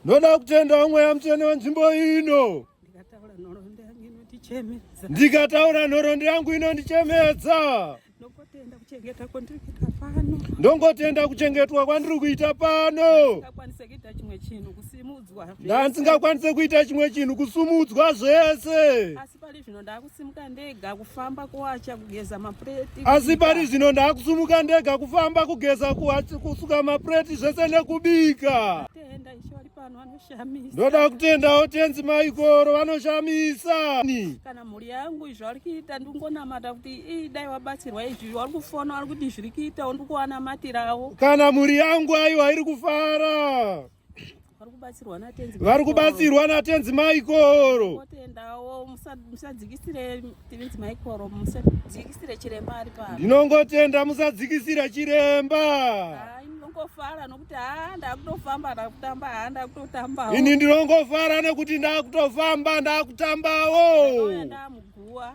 Ndoda kutenda mweya mutsvene wenzvimbo ino. Ndikataura nhoroondo yangu inondichemedza. Ndongotenda kuchengetwa kwandiri kuita pano. ndandisingakwanise kuita chimwe chinhu kusumudzwa zvese asi pari zvino ndakusumuka ndega kufamba kuwacha kugeza mapureti asi pari zvino ndakusumuka ndega kufamba kugeza kusuka mapureti zvese nekubika ndoda kutendawo tenzi maikoro vanoshamisa kana mhuri yangu izvi vari kuita ndingonamata kuti ii dai wabatsirwa izvi vari kufona vari kuti zviri kuitawo ndikuwanamatirawo kana mhuri yangu aiwa iri kufara vari kubatsirwa natenzi maikoro ndinongotenda musadzikisira chiremba ndinongofara nokuti haa ndakutofamba ndakutamba haa ndakutotambawo ini ndinongofara nekuti ndakutofamba ndakutambawo ndamuguwa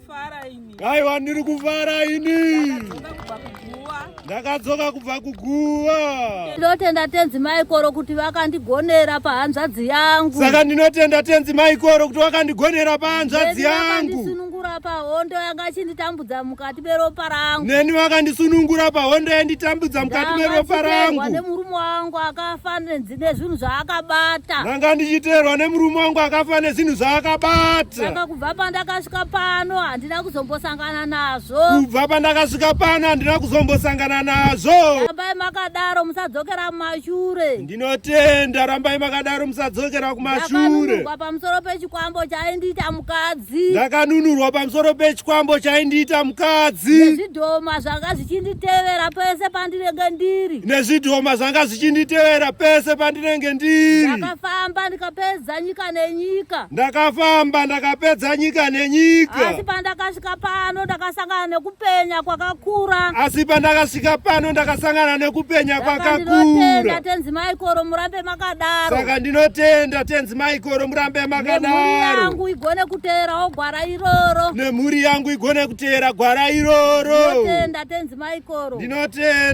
Kaiwa ndiri kufara ini. Ndakadzoka kubva kuguva. Ndinotenda tenzi Maikoro kuti vakandigonera pahanzvadzi yangu. Saka ndinotenda tenzi Maikoro kuti vakandigonera pahanzvadzi yangu. Vakandisunungura pahondo yanga ichinditambudza mukati meropa rangu. Neni vakandisunungura pahondo yanditambudza mukati meropa rangu. Ndanga ndichirwa nemurume wangu akafa nezvinhu zvaakabata ndanga ndichiteerwa nemurume wangu akafa nezvinhu zvaakabata saka kubva pandakasvika pano handina kuzombosangana nazvo kubva pandakasvika pano handina kuzombosangana nazvo rambai makadaro musadzokera kumashure ndinotenda rambai makadaro musadzokera kumashure pamusoro pechikwambo chaindiita mukadzi ndakanunurwa pamusoro pechikwambo chaindiita mukadzi nezvidhoma zvanga zvichinditevera pese pandinenge ndiri nezvidhoma zvanga zvichinditevera pese pandinenge ndiri ndakafamba ndikapedza nyika nenyika ndakafamba ndakapedza nyika nenyika asi pandakasvika pano ndakasangana nekupenya kwakakura asi pandakasvika pano ndakasangana nekupenya kwakakura tenzi maikoro murambe akadaro saka ndinotenda tenzi maikoro murambe makadaro yangu igone kuteerawo gwara iroro nemhuri yangu igone kuteera gwara iroro ndinotenda tenzi maikoro ndinotenda